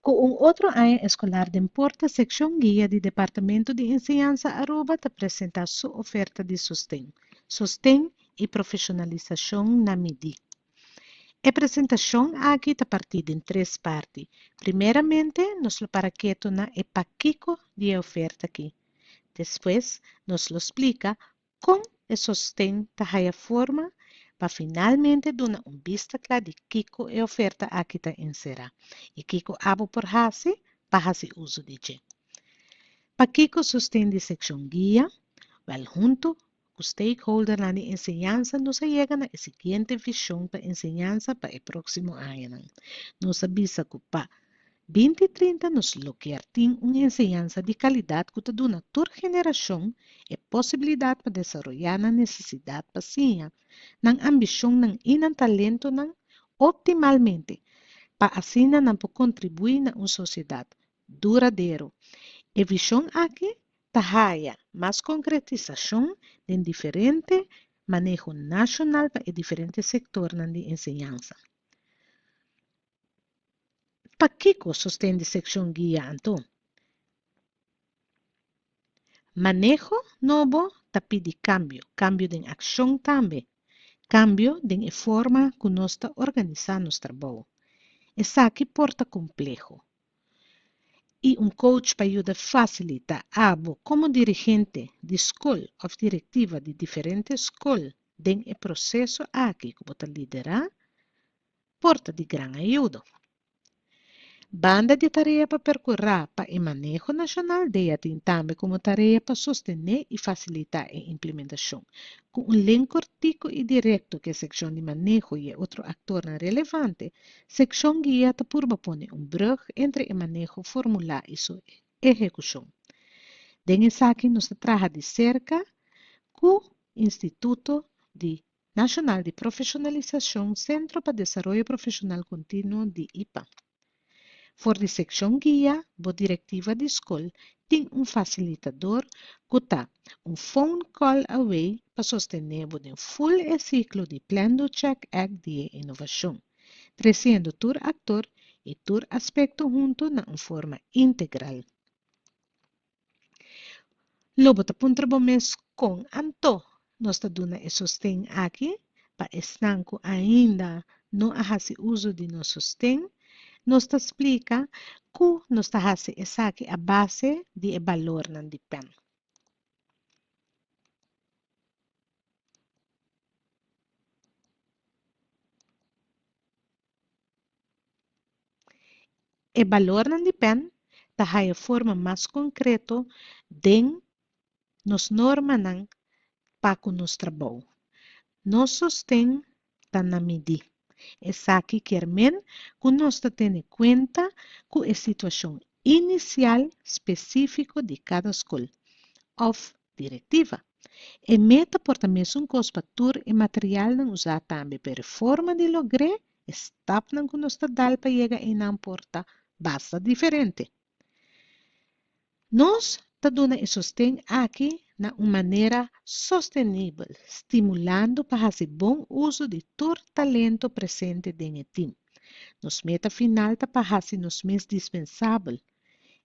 Ku un otro aña eskolar den porta sekshon guia di Departamentu di Enseñansa Aruba ta presentá su oferta di sosten, sosten i profeshonalisashon na midí. E presentashon aki ta partí den tres parti. Primeramente nos lo para ketu na e pakiko di e oferta ki. Despues nos lo splika Kon e sosten ta haya forma pa finalmente duna un bista kla di kiko e oferta aki ta enserá i kiko abo por hasi pa hasi uso di dje? Pakiko sosten di sekshon guia? Wèl huntu ku stakeholdernan di enseñansa nos a yega na e siguiente vishon pa enseñansa pa e próksimo añanan. Nos a bisa ku pa. Binti trinta nos lo kier tin un enseñansa di kalidat ku ta duna tur generashon e posibilidat pa desaroyá nan nesesidat pa siña, nan ambishonnan i nan talentonan optimalmente pa asina nan por kontribuí na un sosiedat duradero. E vishon aki ta haya mas konkretisashon den diferente maneho nashonal pa e diferente sektornan di enseñansa. Pakiko sosten di sekshon guia anto? Maneho nobo ta pidi kambio, kambio den akshon tambe, kambio den e forma ku nos ta organisá nos trabou. Esaki por ta kompleho, i un kouch pa yuda fasilitá abo komo dirigente di skol òf direktiva di diferente skol den e proseso aki ku bo ta liderá. por ta di gran ayudo. Banda di e tarea pa percurá pa e maneho nacional dei a tin tambe como tarea pa sostené y facilitá e implementacion, cu un len cortico y directo cu e seccion di maneho y e otro actornan relevante, Seccion Guia ta purba pone un brug entre e maneho formulá y su ehecucion. Den esaki nos ta traha di cerca cu Instituto di Nacional di Profesionalisacion Centro pa Desaroyo Profesional Continuo di IPAM. For di seccion guia bo directiva di scol tin un facilitador cu ta un phone call away pa sostene bo den full e ciclo di Planned Check Act di e innovacion, treciendo tur actor y tur aspecto hunto na un forma integral. Lo bo ta puntra bo mes kon anto nos ta duna e sosten aki pa esnan ku ainda no a hasi uso di nos sosten? Nos ta splika ku nos ta hasi esaki a base di e balornan di pen. E balornan di pen ta haya forma mas konkreto den nos normanan pa ku nos trabou. Nos sosten ta na midí. Esaki kier men ku nos ta tene kuenta ku e situashon inisial spesífiko di kada skol òf Directiva. E meta por ta mesun cos pa tur e materialnan uza tambe, pero e forma di logr'e, e stapnan cu nos ta dal pa yega einan por ta basta diferente. Nos ta duna e sosten aki na un manera sostenibel, stimulando pa haci bon uzo di tur talento presente den e team. Nos meta final ta pa haci nos mes dispensabel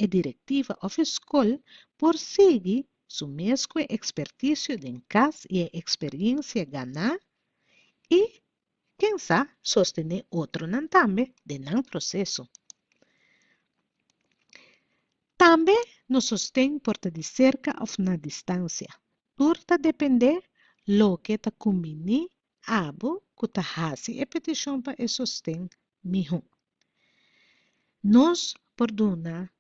E direktiva òf e skol por sigui su mes ku e ekspertisio den kas i e eksperiensia ganá i kensá sostené otronan tambe den nan proseso. Tambe nos sosten por ta di serka òf na distansia, tur ta dependé loke ta kumbiní abo ku ta hasi e petishon pa e sosten mihó. Nos por duna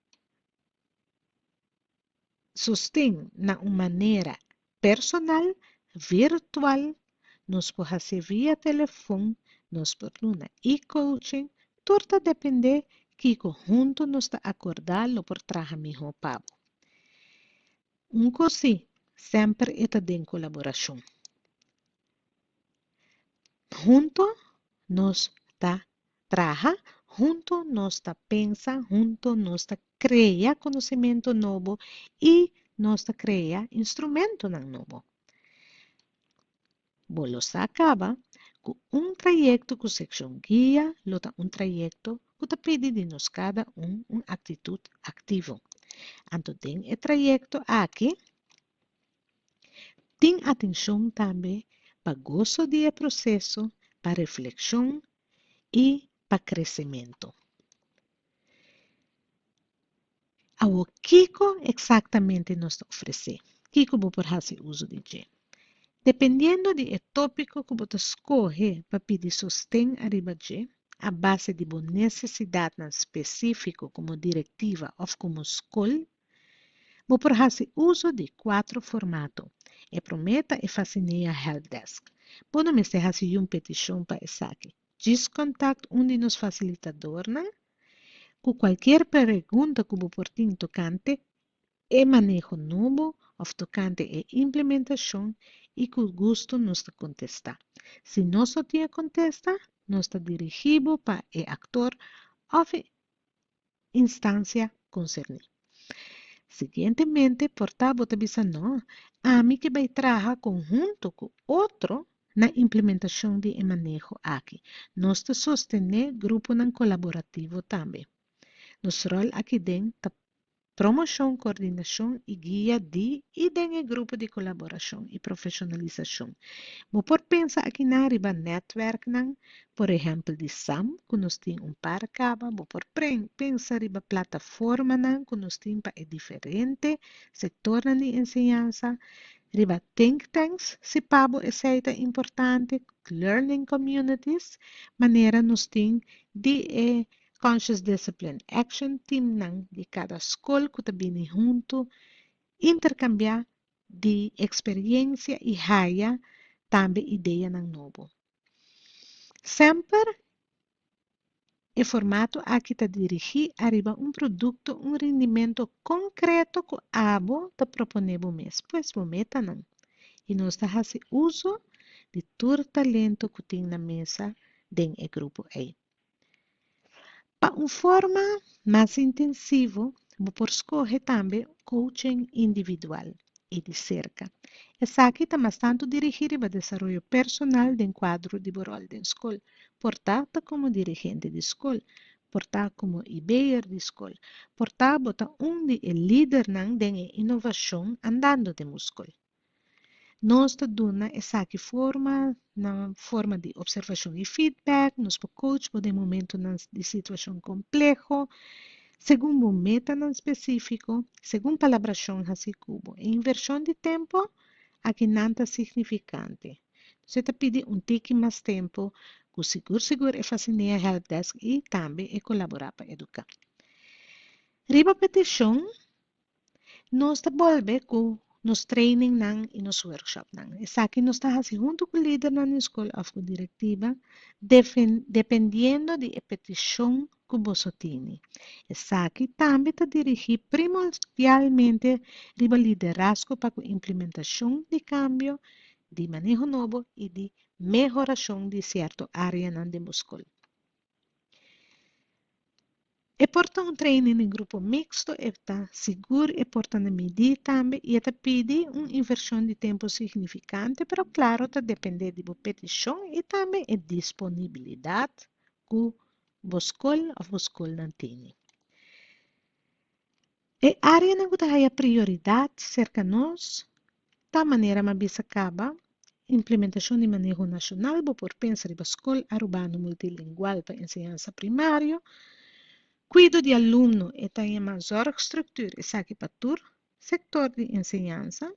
sosten na un manera personal, virtual, nos por hasi via telefon, nos por duna e-coaching, tur ta depende kiko huntu nos ta akorda lo por traha mihó pa bo. Un kos si, semper e ta den kolaborashon. Huntu nos ta traha hunto nos ta pensa hunto nos ta krea konosementu nobo i nos ta krea instrumentunan nobo. Bo lo sa kaba ku un trayekto ku sekshon guia lo ta un trayekto ku ta pidi di nos kada un un aktitut aktivo. Anto den e trayekto aki tin atenshon tambe pa goso di e proseso pa reflekshon i pa kresementu. Awo, kiko eksaktamente nos ta ofresé? Kiko bo por hasi uso di dje? Dependiendo di e tópiko ku bo ta skohe pa pidi sosten ariba dje, a base di bo nesesidatnan spesífiko komo direktiva òf komo skol Bo por hasi uso di kuater formato. E promé ta e Fasinea Helpdesk. Bo no mester hasi un petishon pa esaki. Djis kontakt un di nos fasilitadornan ku kualkier pregunta ku bo por tin tokante e maneho nobo òf tokante e implementashon i ku gusto nos ta kontestá. Si nos no tin e kontesta, nos ta dirigí bo pa e aktor òf e instancia concerni. Siguientemente por ta bo ta bisa no, ami ke bai traha conhunto cu otro na implementacion di e maneho aki. Nos ta sostene gruponan colaborativo tambe. Nos rol akinden ta Promoshon, koordinashon i guia di i den e grupo di kolaborashon i profeshonalisashon. Bo por pensa akinan riba nètwèrknan, por ehèmpel di sam, ku nos tin un par kaba, bo por pensa riba plataformanan ku nos tin pa e diferente sektornan di enseñansa, riba think tanks, si pa bo esei ta importante, learning communities, manera nos tin di e Conscious Discipline Action Teamnan di kada skol ku ta bini huntu interkambiá di eksperyensia i haya tambe ideanan nobo. Semper e formato aki ta dirigí ariba un produkto, un rindimento konkreto ku abo ta proponé bo mes, pues bo metanan. I nos ta hasi uso di tur talento ku tin na mesa den e grupo ei. Pa un forma mas intensivo bo por skohe tambe kouching individual i di serka. Esaki ta mas tantu dirigí riba desaroyo personal den kuadro di bo ròl den skol, por ta ta komo dirigente di skol, por ta komo e beyer di skol, por ta bo ta un di e lidernan den e inovashon andando den bo skol. Nos ta duna esaki forma na forma di observashon i feedback. Nos por coach bo den momentunan di situashon kompleho segun bo metanan spesífiko, segun palabrashon hasi ku bo. E invershon di tempu aki nan ta signifikante. Nos ta pidi un tiki mas tempu ku sigur sigur e fasinea helpdesk i tambe e kolaborá pa eduká. Riba petishon Nos ta bolbe ku nos trainingnan i nos workshopnan. Esaki nos ta hasi huntu ku lidernan di skol òf ku direktiva, dependiendo di e petishon ku boso tene. Esaki tambe ta dirigí primordialmente riba liderazgo pa ku implementashon di kambio, di maneho nobo i di mehorashon di sierto áreanan den bo skol. E por ta un training di grupo mixto, e ta sigur e por ta na midí tambe i e ta pidi un invershon di tempu signifikante, pero klaru ta dependé di bo petishon i tambe e disponibilidat ku bo skol òf bo skolnan tene. E áreanan ku ta haya prioridat serka nos ta manera m'a bisa kaba, implementashon di maneho nashonal, bo por pensa riba skol arubano multilingual pa enseñansa primario, kuido di alumno, e ta yama zòrgstruktuur, esaki pa tur sektor di enseñansa,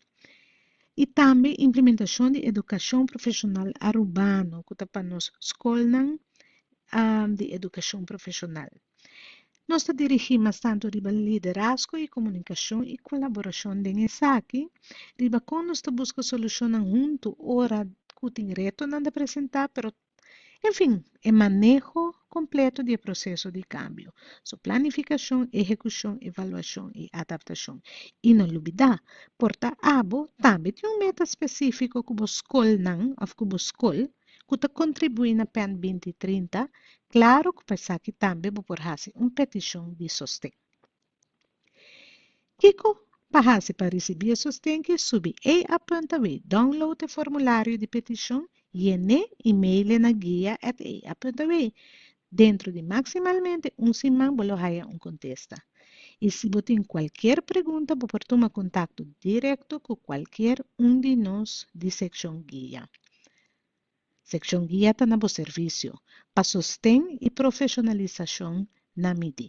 i tambe implementashon di edukashon profeshonal arubano ku ta pa nos skolnan di edukashon profeshonal. Nos ta dirigí mas tantu riba liderazgo i komunikashon i kolaborashon den esaki, riba kon nos ta buska solushonnan huntu ora ku tin retonan ta presentá, pero, en fin, e maneho kompleto di e proseso di kambio, su planifikashon, ehekushon, evaluashon i adaptashon. I no lubidá, por ta abo tambe tin un meta spesífiko ku bo skolnan òf ku bo skol, ku ta kontribuí na pen binti trinta, klaru ku pa esaki tambe bo por hasi un petishon di sosten. Kiko pa hasi pa risibí e sosten ki subi ei a punta wei download e formulario di petishon, yené i mail'e na guia at ei a punta wei. Dentro di maksimalmente un siman bo lo haya un kontesta. I si bo tin kualker pregunta bo por tuma kontakto direkto ku kualker un di nos di sekshon guia. Sekshon guia ta na bo servisio pa sosten i profeshonalisashon na mi di.